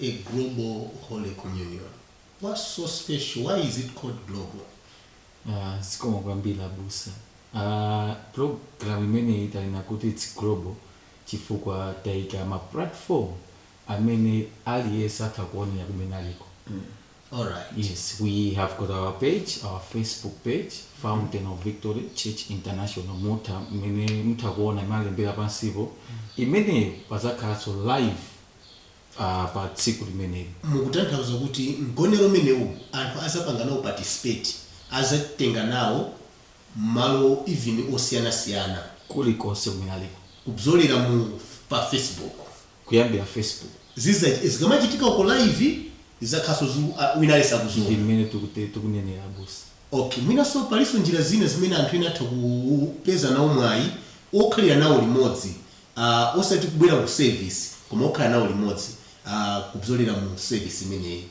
a global holy communion what's so special why is it called global Ah, zikomo kwambiri abusa Ah, program imeneyi tanena kuti its global chifukwa taika ma platform amene aliyense atha kuonera kumene aliko all right yes we have got our page our facebook page fountain of victory church international imene mutha kuona imalembedwa pansipo imeneyi pazakhalanso live a pa tsiku limeneli. Mukutanthauza kuti mgonero umenewu anthu azapanga nawo participate, azatenga nawo mbali even osiyanasiyana. kulikonse kumene aliko. kudzera pa Facebook. Kuyambira Facebook. zikamachitika uko live zizakhalanso zu wina aliyense akuziona. Ndi mmene tikuti tikunenera abusa. Okay, mwinanso palinso njira zina zimene anthu ena atha ku peza nawo mwayi okhalira nawo limodzi Aaa osati kubwera mu service koma kukhala nawo limodzi aa kupyolera mu service imeneyi.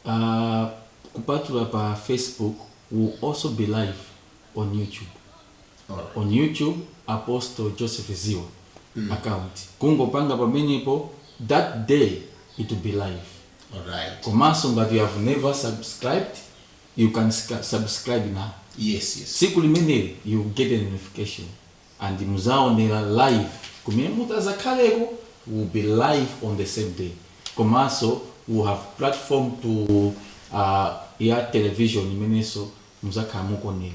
Aaa kupatula pa Facebook it will also be live on YouTube alright on YouTube Apostle Joseph Ziba mm account kungopanga pamenepo that day it will be live alright komanso ngati you have never subscribed you can subscribe now yes yes tsiku limeneli you will get a notification. and muzaonera live kumene mutazakhaleko we'll be live on the same day komanso we'll have platform ya television imenenso muzakhala mukuonera.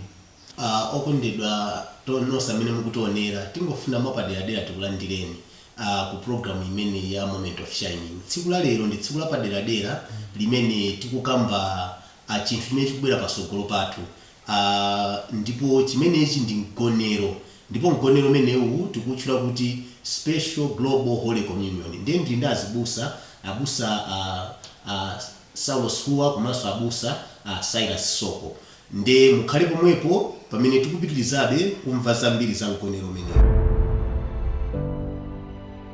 Uh, okondedwa nonse amene mukutionera tingofuna mwapaderadera tikulandireni uh, ku program imeneyi ya moment of shining tsiku la lero ndi tsiku lapaderadera limene tikukamba uh, chinthu chimene chikubwera pasogolo pathu a, ndipo chimenechi ndi mgonero, ndipo mgonero umenewu tikuwutchula kuti Special Global Holy Communion. Ndiye ndiri ndi azibusa, Abusa a, a Saulos Hua komanso Abusa a Cyrus Soko. Ndiye mukhale pomwepo pamene tikupitirizabe kumva zambiri za mgonero umenewu.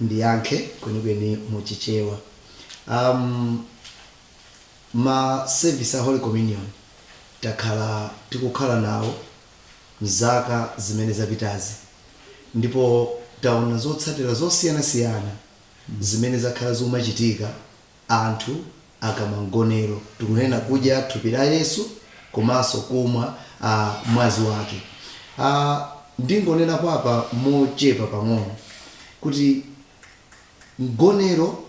ndiyankhe kwenikweni mu chichewa um, ma service a holy communion takhala tikukhala nawo mzaka zimene zapitazi ndipo taona zotsatira zosiyanasiyana zimene zakhala zikumachitika anthu akamwa mgonero, tikunena kudya thupi la Yesu komanso kumwa a mwazi wake. A ndingonenapo apa mochepa pang'ono kuti mgonero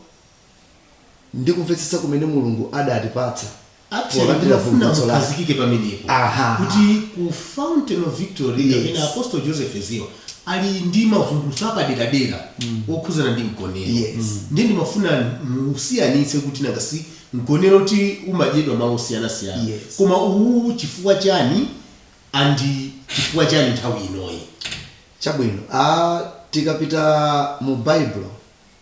ndi kumvetsetsa kumene Mulungu adatipatsa. Actually, Polandira ndinafuna vumbulutso lake. mukhazikike pamenepo Aha. kuti ku fountain of victory Yes. kapena apostle joseph ziba ali ndi mavumbulutso apaderadera okhuzana ndi mgonero Yes. ndiye ndimafuna musiyanitse kuti nanga si mgonero ti umadyedwa malo osiyanasiyana Yes. koma uwu chifukwa chani andi chifukwa chani nthawi inoyi chabwino ah, tikapita mu baibulo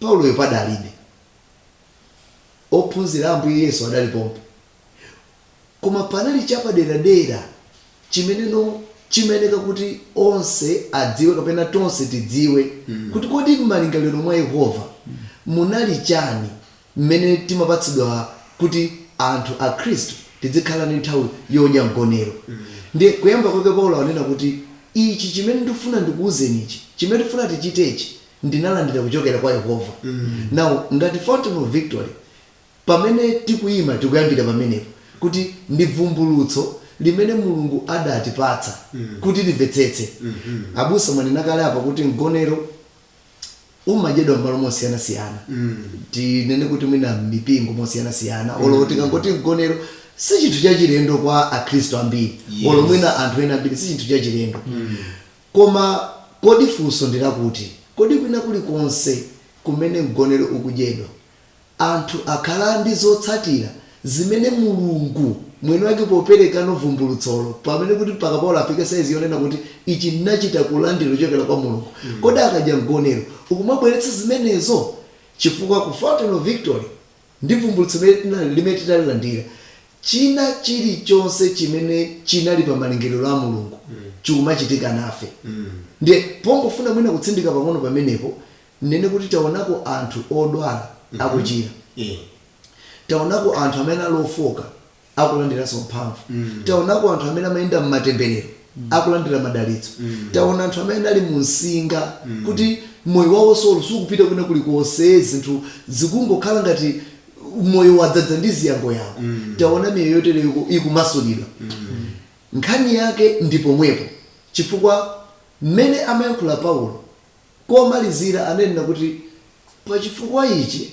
Pauloyo padalibe. Ophunzira a Ambuye Yesu adali pompo. Koma panali chapaderadera chimeneno chimayeneka kuti onse adziwe kapena tonse tidziwe kuti kodi mmalingaliro mwa Yehova munali chani mmene timapatsidwa kuti anthu akhristu tidzikhala ndi nthawi yodya mgonero ndiye kuyamba kwake Paulo akunena kuti ichi chimene ndifuna ndikuuzeni ichi chimene tifuna tichitechi ndinalandira kuchokera kwa Yehova now ngati Fountain of Victory pamene tikuyima tikuyambira pamenepo kuti ndi bvumbulutso limene Mulungu adatipatsa kuti limvetsetse abusa mwanena kale apa kuti mgonero umadyedwa m'malo mosiyanasiyana tinene kuti mwina m'mipingo mosiyanasiyana olo tikangoti mgonero si chinthu chachilendo kwa akhristu ambiri Yes. olo mwina anthu ena ambiri si chinthu chachilendo koma kodi funso ndilakuti kodi kwina kulikonse kumene mgonero ukudyedwa Anthu akhala ndi zotsatira zimene Mulungu Mwiniwake popereka vumbulutsolo, pamene kuti mpaka Paulo afike saizi yonena kuti, Ichi ndinachita kulandira kuchokera kwa Mulungu. Kodi akadya mgonero ukumabweretsa zimenezo? Chifukwa ku Fountain of Victory ndi vumbulutso limene tinali, limene titalilandira, china chirichonse chimene chinali pa malingaliro a Mulungu chikumachitika nafe. Ndiye pongofuna mwina kutsindika pang'ono pamenepo, Tinene kuti taonako anthu odwala akuchira, taonako anthu amene anali ofooka akulandiranso mphamvu, taonako anthu amene amayenda m'matemberero akulandira madalitso, taona anthu amene anali munsinga kuti moyo wawo olo sukupita kwina kulikonse, zinthu zikungokhala ngati moyo wadzadza ndi ziyangoyango, taona miyoyo yotereyo ikumasulidwa. Nkhani yake ndi pomwepo chifukwa mmene amayankhula Paulo komalizira ananena kuti pa chifukwa ichi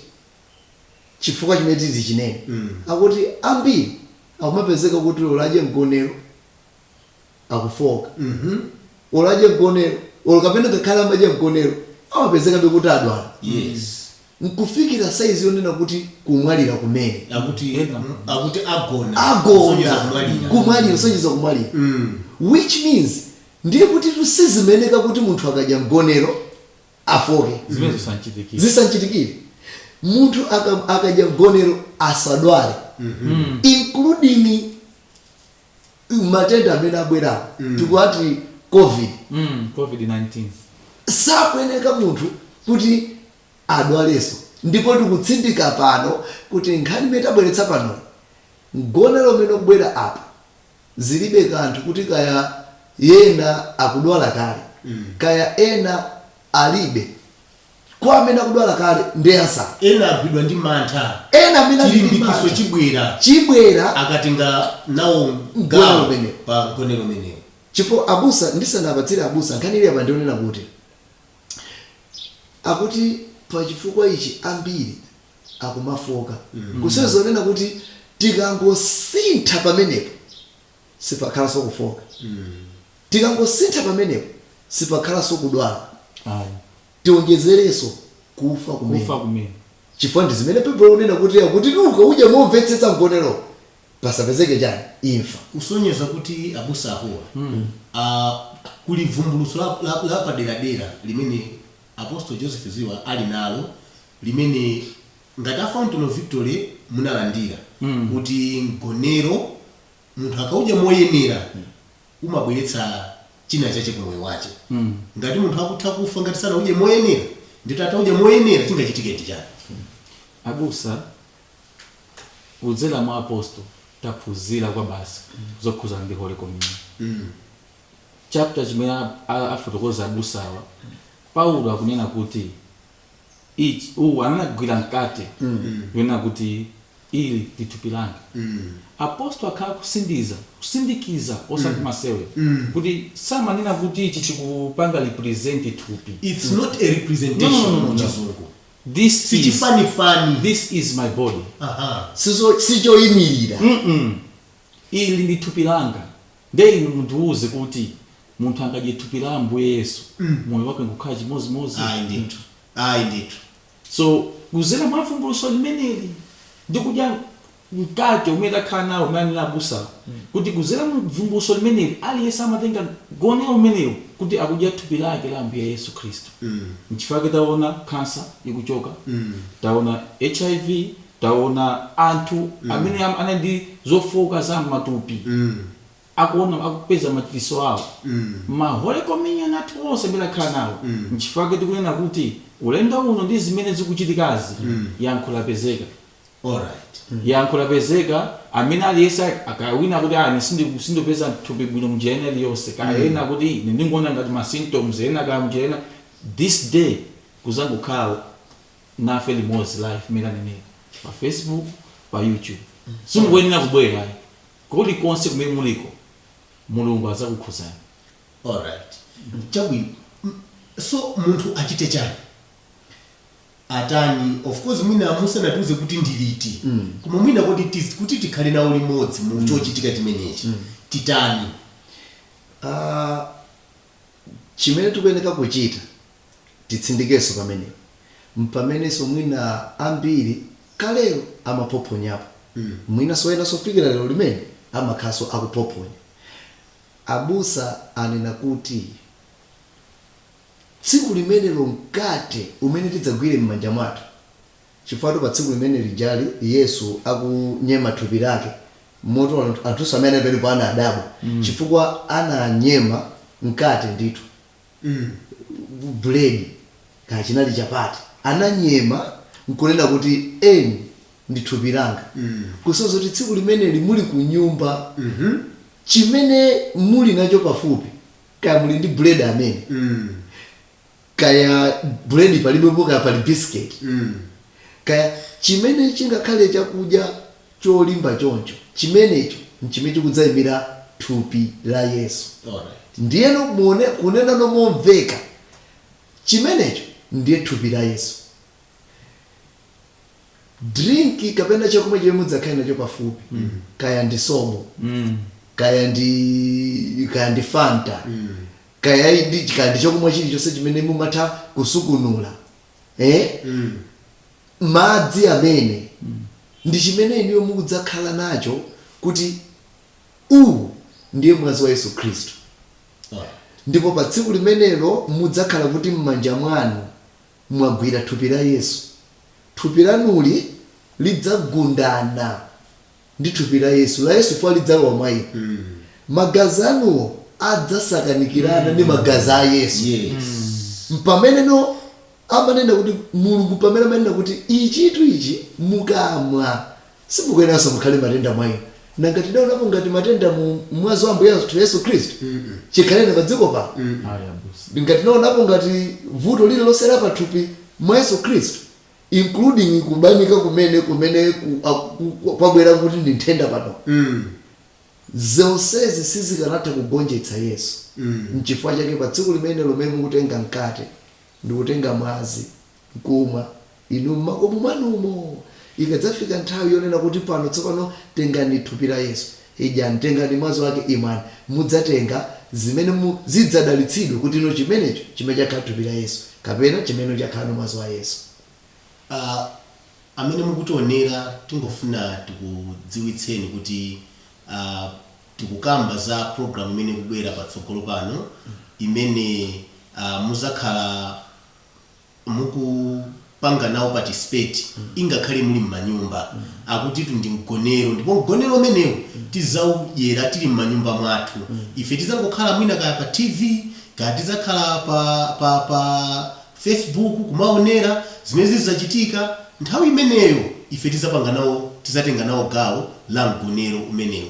chifukwa chimene titi chinene akuti ambiri akumapezeka kuti oladya mgonero akufooka oladya mgonero olo kapena ngakhale amadya mgonero amapezekabe kuti adwala yes nkufikira saizi yonena kuti kumwalira kumene akuti akuti agona agona Kusonyeza kumwalira. kumwalira kusonyeza kumwalira which means Ndiye kutitu sizimeneka kuti munthu akadya mgonero afooke. zisamchitikire. Zisamchitikire. Munthu aka, akadya mgonero asadwale. Including matenda amene abwerawo. Tikuwati COVID. Mm, COVID-19. sakuyeneka munthu kuti adwalenso ndipo tikutsindika pano kuti nkhani imene tabweretsa pano mgonero umene ukubwera apa Zilibe kanthu kuti kaya ena akudwala kale, kaya ena alibe, kwa amene akudwala kale ndi answer. Ena agwidwa ndi mantha. Ena amene ali ndi mantha. Chilimbikitso chibwera. Chibwera. Akatenga nawo gawo pa mgonero umenewu. Chifukwa abusa, ndisanapatsire abusa nkhani ili apa ndi yonena kuti akuti pa chifukwa ichi ambiri akumafooka kusonyeza zonena kuti tikangosintha pamenepo sipakhalanso kufooka tikangosintha pamenepo sipakhalanso kudwala Ayi. tionjezerenso kufa kumene kufa kumene chifukwa ndi zimene baibulo likunena kuti akuti ukaudya momvetsetsa mgonero pasapezeke chani imfa kusonyeza kuti abusa awa ah, kuli vumbulutso la- la- lapaderadera limene Apostle Joseph Ziba ali nalo limene ngati a Fountain of Victory munalandira kuti mgonero munthu akaudya moyenera umabweretsa china chache ku moyo wache. Ngati munthu akutha kufa ngati sanaudye moyenera ndikuti ataudya moyenera chingachitike ndi chani? Abusa kudzera mwa Apostle taphunzira kwabasi zokhudzana ndi Holy Communion. chapter chimene a- a- afotokoza abusa awa paulo akunena kuti ichi uwu anagwira mkate kunena kuti ili ndi thupi langa apostol akhala kusindiza kusindikiza osati masewera kuti samanena kuti ichi chikupanga represent thupi it's not a No, no, no, representation no, no. muchizungu this is, sichifanifani this is my body Aha. Sizo- sichoyimirira Ili ili ndi thupi langa. Ndiye inu mundiuze kuti munthu angadye thupi la Ambuye Yesu moyo wake nkukhala chimodzimodzi? Ayi ndithu. Ayi ndithu. So, kuzera mwa vumbulutso limeneli ndi kudya mkate umene takhala nawo umene anena abusawo kuti kuzera mu vumbulutso limeneli aliyense amatenga mgonero umenewu kuti akudya thupi lake la Ambuye Yesu Khristu. Nchifukwa chake taona khansa ikuchoka, taona hiv. Taona anthu amene anali ndi zofooka za mmatupi akupeza machiritso awo. Ma Holy Communion athu onse amene takhala nawo, nchifukwa chake tikunena kuti ulendo uno ndi zimene zikuchitikazi, yankho lapezeka. Alright. Yankho lapezeka, amene aliyense a, kaya wina akuti aah ine sindiku sindikupeza thupi bwino mnjira ina iliyonse, kaya ena akuti ine ndingoona ngati ma symptoms ena kaya mnjira ina, this day muzangokhala. nafe limodzi live mmene anenera pa facebook pa youtube simukuyenera kubwera ayi kuli konse kumene muliko mulungu adzakukhuzani alright chabwino M- so munthu achite chani atani of course mwina musanatiuze kuti ndiliti koma mwina kuti tiz- kuti tikhale nawo limodzi mu chochitika chimenechi titani Ah, chimene tikuyenera kuchita Titsindikenso pamenepo, m'pamenenso mwina ambiri kalelo amaphophonyapo, mwinanso enanso kufikira lero limene amakhalanso akuphophonya. Abusa anena kuti tsiku limenelo mkate umene tidzagwire m'manja mwathu, chifukwatu pa tsiku limene lijali Yesu akunyema thupi lake, moti anthunso amene anali pamenepo anadabwa chifukwa ananyema mkate ndithu. buledi kaya chinali chapati ananyema nkunena kuti ili ndi thupi langa kusonyeza kuti tsiku limeneli muli kunyumba chimene muli nacho pafupi kaya muli ndi buledi amene kaya buledi palibepo kaya pali bisiketi kaya chimene chingakhale chakudya cholimba choncho. Chimenecho nchimene chikudzaimira thupi la Yesu. Alright. Ndiyeno kunenano momveka, chimenecho ndiye thupi la Yesu. Dirinki kapena chakumwa chimene mudzakhale nacho pafupi, kaya ndi sobo, kaya ndi, kaya ndi fanta, kaya ndi, kaya ndi chakumwa chirichonse chimene mumatha kusungunula, eh? madzi amene ndi chimene inuyo mukudzakhala nacho kuti uwu ndiye mwazi wa yesu khristu ndipo pa tsiku limenelo mudzakhala kuti m'manja mwanu mwagwira thupi la yesu thupi lanuli lidzagundana ndi thupi la Yesu, la Yesu lidzalowa mwa inu, magazi anuwo adzasakanikirana ndi magazi a Yesu. Yes. Mpameneno timanena kuti Mulungu pamene amanena kuti ichitu ichi mukamwa simukuyeneranso mukhale matenda mwa inu. Nanga tidaonapo ngati matenda mu mwazi wa Ambuye athu Yesu Khristu? Chikhaleni pa dziko pano. Ayi abusa. Nanga tinaonapo ngati vuto lililonse la pathupi mwa Yesu Khristu? including kubanika kumene ku, a, ku, ku, kwabwera kuti ndi nthenda pano mm. zonsezi sizikanatha kugonjetsa yesu mm. mchifukwa chake pa tsiku limene lomwe mukutenga mkate ndikutenga mwazi nkumwa inu mmakomo mwanumo ikadzafika nthawi yonena kuti pano tsopano tengani thupi la yesu Idyani, tengani mwazi wake, imwani, mudzatenga zimene zidzadalitsidwe kuti ino chimenecho chimene chakhala thupi la Yesu, kapena chimene chakhala no mwazi wa Yesu. A, amene mukutionera tingofuna tikudziwitseni kuti a, tikukamba za program imene ikubwera patsogolo pano imene a, muzakhala mukupanga nawo participate ingakhale muli mmanyumba akuti tu ndi mgonero ndipo mgonero umenewu tizaudyera tili mmanyumba mwathu ife tizangokhala mwina kaya pa tv kaya tizakhala pa pa pa facebook kumaonera zimene zizachitika nthawi imeneyo ife tizapanga nawo tizatenga nawo gawo la mgonero umenewu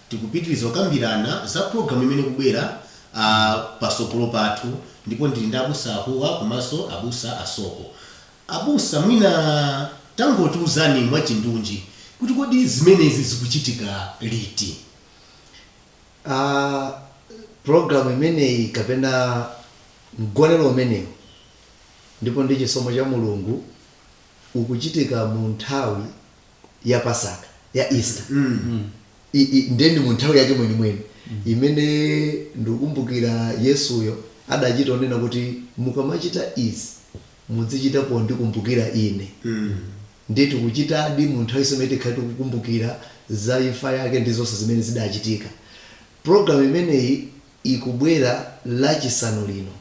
Tikupitiliza kukambirana za program imene ikubwera a pasogolo pathu ndipo ndili ndi abusa ahuwa komanso abusa a soko. Abusa mwina tangotiuzani mwachindunji kuti kodi zimenezi zikuchitika liti? A program imeneyi kapena mgonero umenewu ndipo ndi chisomo cha Mulungu ukuchitika mu nthawi. ya pasaka ya easter I- i- ndiye ndi mu nthawi yake mwenimweni imene ndikukumbukira yesuyo adachita onena kuti mukamachita izi muzichita pondikumbukira ine ndiye tikuchitadi mu nthawi imene tikhale tikukumbukira za imfa yake ndi zonse zimene zidachitika programu imeneyi ikubwera lachisanu lino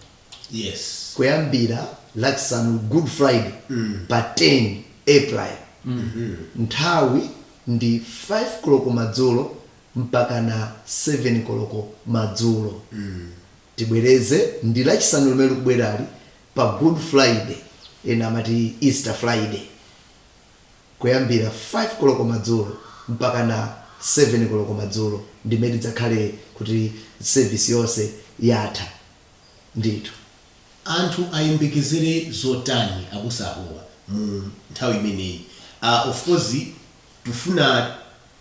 Yes. Kuyambira Lachisanu, Good Friday, pa 10 April, nthawi ndi 5 koloko madzulo mpakana 7 koloko madzulo. Tibwereze ndi Lachisanu limene likubwerali pa Good Friday, ena amati Easter Friday, kuyambira 5 koloko madzulo mpakana 7 koloko madzulo, ndimene tidzakhale kuti service yonse yatha. Ndithu. Anthu ayembekezere zotani abusa ahuwa mu nthawi imeneyi? Aaa of course tufuna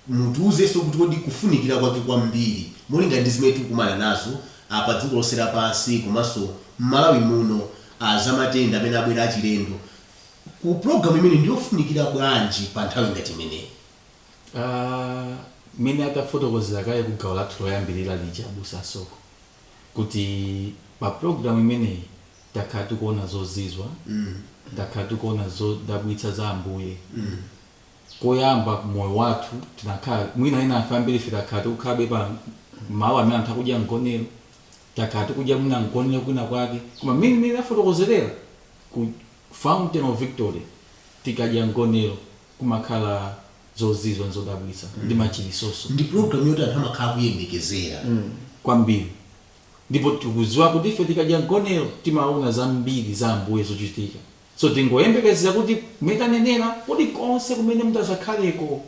mutiuzenso kuti kodi kufunikira kwake kwambiri molingana ndi zimene tikukumana nazo pa dziko lonse lapansi komanso mmalawi muno aah zamatenda amene abwera achilendo ku program imeneyi ndiyofunikira bwanji pa nthawi ngati imeneyi? Aaa mmene atafotokozera kale ku gawo lathu loyambilira lija abusa asoko. kuti pa program imeneyi takhala tikuona zozizwa takhala tikuona zodabwitsa za ambuye kuyamba moyo wathu tinakhala mwina ena a anthu ambiri ife takhala tikukhalabe pa malo amene anthu akudya mgonero takhala tikudya mwina mgonero kwina kwake koma mmene mmene tafotokozerera ku fountain of victory tikadya mgonero kumakhala zozizwa nzodabwitsa ndi machilisonso ndi program yoti anthu amakhala kuyembekezera kwambiri ndipo tikudziwa kuti ife tikadya mgonero timaona zambiri za ambuye zochitika so tingoyembekezera kuti mmene tanenera kuli konse kumene mutazakhaleko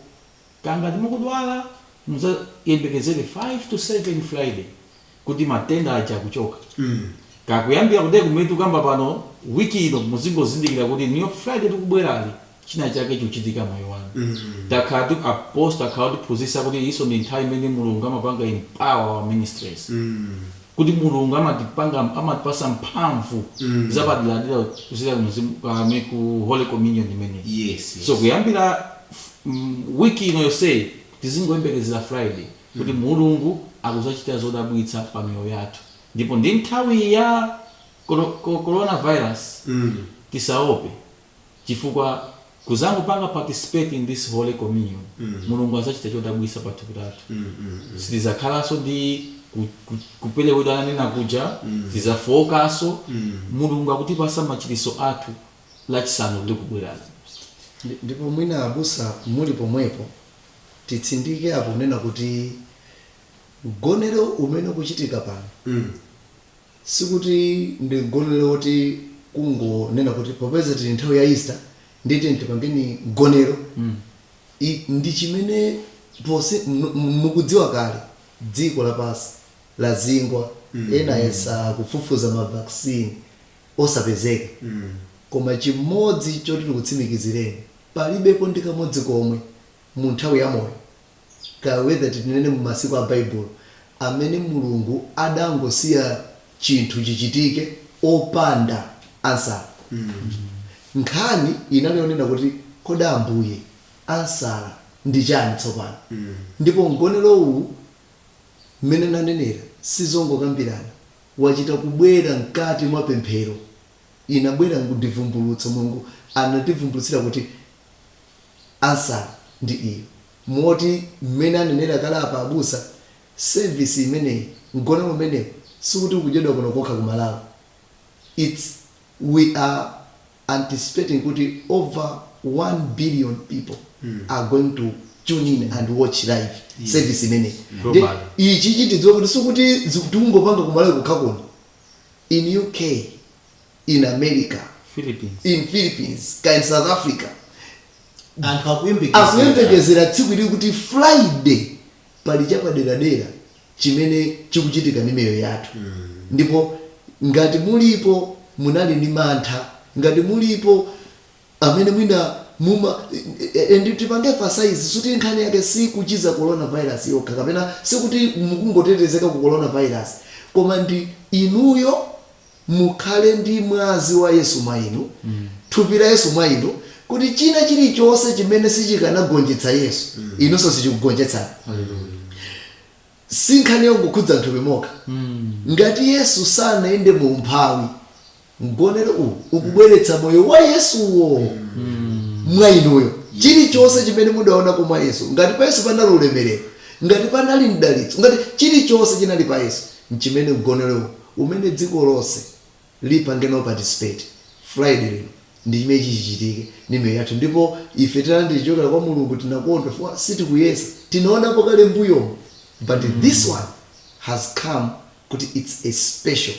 kangati mukudwala muzayembekezere 5 to 7 friday kuti matenda aja akuchoka mm. kaya kuyambira kuti kumutu kaya pano wiki ino muzingozindikira kuti Friday likubwerali china chake chochitika moyo wanu mm -hmm. takhalatu apostle akhala akutiphunzisa kuti iyinso ndi nthawi imene mulungu amapanga empower wa ministries mm -hmm kuti mulungu amatipanga amatipasa mphamvu mm. zapadera-dera kuzera mzimu kaya ku holy communion imene yes, yes. so kuyambira mm, wiki ino yonse tizingoyembekezera friday kuti Mulungu akuzachita zodabwitsa pa miyoyo yathu ndipo ndi nthawi ya corona virus tisaope chifukwa tikazangopanga participate in this holy communion Mulungu azachita chodabwitsa pa thupi lathu sitizakhalanso ndi kuperewera ananena kuja sitizafookaso Mulungu akutipasa machiritso athu lachisanu likubwerali ndipo mwina abusa muli pomwepo titsindikepo kunena kuti mgonero umene ukuchitika pano Mm. sikuti ndi mgonero woti kungonena kuti popeza tili nthawi ya easter ndiye tiyeni tipangeni mgonero I- ndi chimene pose mu- mu- mukudziwa kale dziko lapansi lazingwa ena ayesa kufufuza mavaccine osapezeka. Koma chimodzi choti ndikutsimikizireni, palibepo ndi kamodzi komwe mu nthawi ya moyo, kaya whether tinene mu masiku a Baibulo, amene Mulungu adangosiya chinthu chichitike opanda answer. Nkhani inali yonena kuti kodi Ambuye, answer ndi chani tsopano? Ndipo mgonero uwu, mmene nanenera, sizongokambirana. wachita kubwera mkati mwa pemphero, inabwera ndivumbulutso, Mulungu anativumbulutsira kuti answer ndi iyi. Moti mmene anenera kale apa abusa, service imeneyi, mgonero umenewu sikuti ukudyedwa kuno kokha ku Malawi, it's we are. anticipating kuti over 1 billion people are going to tune in and watch live service imeneyi nde Globally. ichichi tidziwe kuti sikuti ziku- tikungopanga kumalawi kokha kuno in uk in america Philippines. in philippines ka in south africa anthu akuyembekezera akuyembekezera tsiku ili kuti friday pali chapaderadera chimene chikuchitika ndi miyoyo yathu ndipo ngati mulipo munali ndi mantha ngati mulipo amene mwina muma and tipange emphasize suti nkhani yake si kuchiza coronavirus yokha kapena sikuti mukungotetezeka ku coronavirus koma ndi inuyo mukhale ndi mwazi wa Yesu mwa inu, thupi la Yesu mwa inu, kuti china chilichonse chimene sichikanagonjetsa Yesu, inunso sichikugonjetsani. Si nkhani yongokhudza m'thupi mokha. Ngati Yesu sanayende mu umphawi, mgonero uwu ukubweretsa moyo wa Yesuwo mwa inuyo. Chilichonse chimene mudaonako mwa Yesu, ngati pa Yesu panali ulemerero, ngati panali mdalitso, ngati chilichonse chinali pa Yesu, n'chimene mgonero uwu umene dziko lonse lipange nawo participate friday lino ndi chimene chichichitike ndi miyoyo yathu ndipo ife tilandire chochokera kwa mulungu tinakondwa chifukwa sitikuyesa tinaonapo kale mbuyomu but this one has come kuti its a special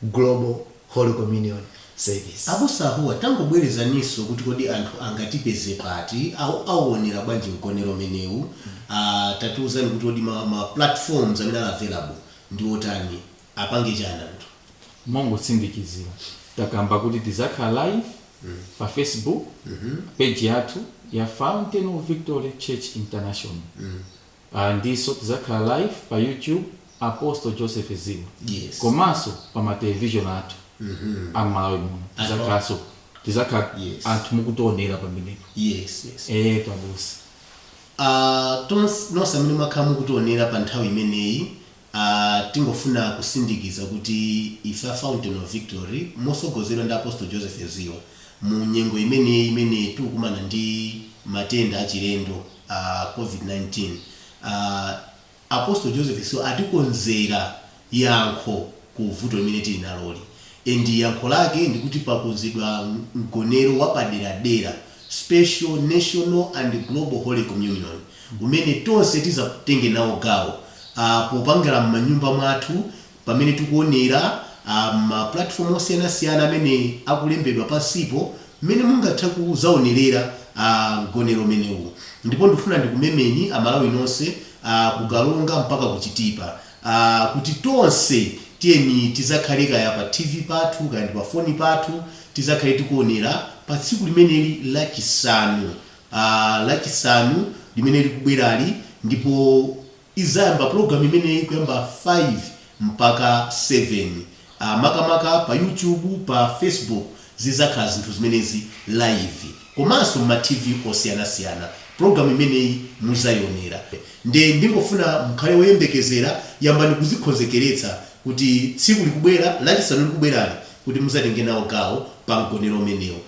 global holy communion service Abusa Ahuwa, tangobwerezaninso kuti kodi anthu angatipeze pati, au, auonera bwanji mgonero umenewu, ah, tatiuzani kuti kodi ma, ma platforms amene ali available ndi otani? Apange chani anthu? Mongosindikizira takamba kuti tizakhala live pa Facebook page yathu ya Fountain of Victory Church International ndinso tizakhala live pa YouTube Apostle Joseph Ziba Yes. komanso pa ma television athu a m'Malawi muno Anthu- tizakhalanso tizakhala Yes. anthu mukutionera pamenepo Yes, yes. eetu abusa A tons nonse amene mwakhala mukutionera pa nthawi imeneyi a tingofuna kusindikiza kuti ife a Fountain of Victory motsogozedwa ndi Apostle Joseph Ziba mu nyengo imeneyi imene tikukumana ndi matenda achilendo a Covid 19 a Apostle Joseph Ziba atikonzera yankho ku vuto limene tili naloli and yankho lake ndikuti pakonzedwa mgonero wapaderadera, special national and global holy communion, umene tonse tizatenge nawo gawo popangila mmanyumba mwathu. Pamene tikuonera ma platform osiyanasiyana amene akulembedwa pansipo mmene mungatha kuzaonelera a mgonero umenewu ndipo ndikufuna ndikumemeni a Malawi nonse ku Karonga mpaka ku Chitipa kuti tonse tiyeni tizakhale kaya pa TV pathu kaya ndi pa foni pathu tizakhale tikuonera pa tsiku limeneli la chisanu a la chisanu limene likubwerali ndipo Izayamba program imeneyi kuyamba 5 mpaka 7 aah makamaka pa YouTube pa Facebook zizakhala zinthu zimenezi live komanso mma TV osiyanasiyana program imeneyi muzayionera nde ndingofuna mukhale oyembekezera yambani kuzikhonzekeretsa kuti tsiku likubwera lachisanu likubwerali kuti muzatenge nawo gawo pa mgonero umenewu.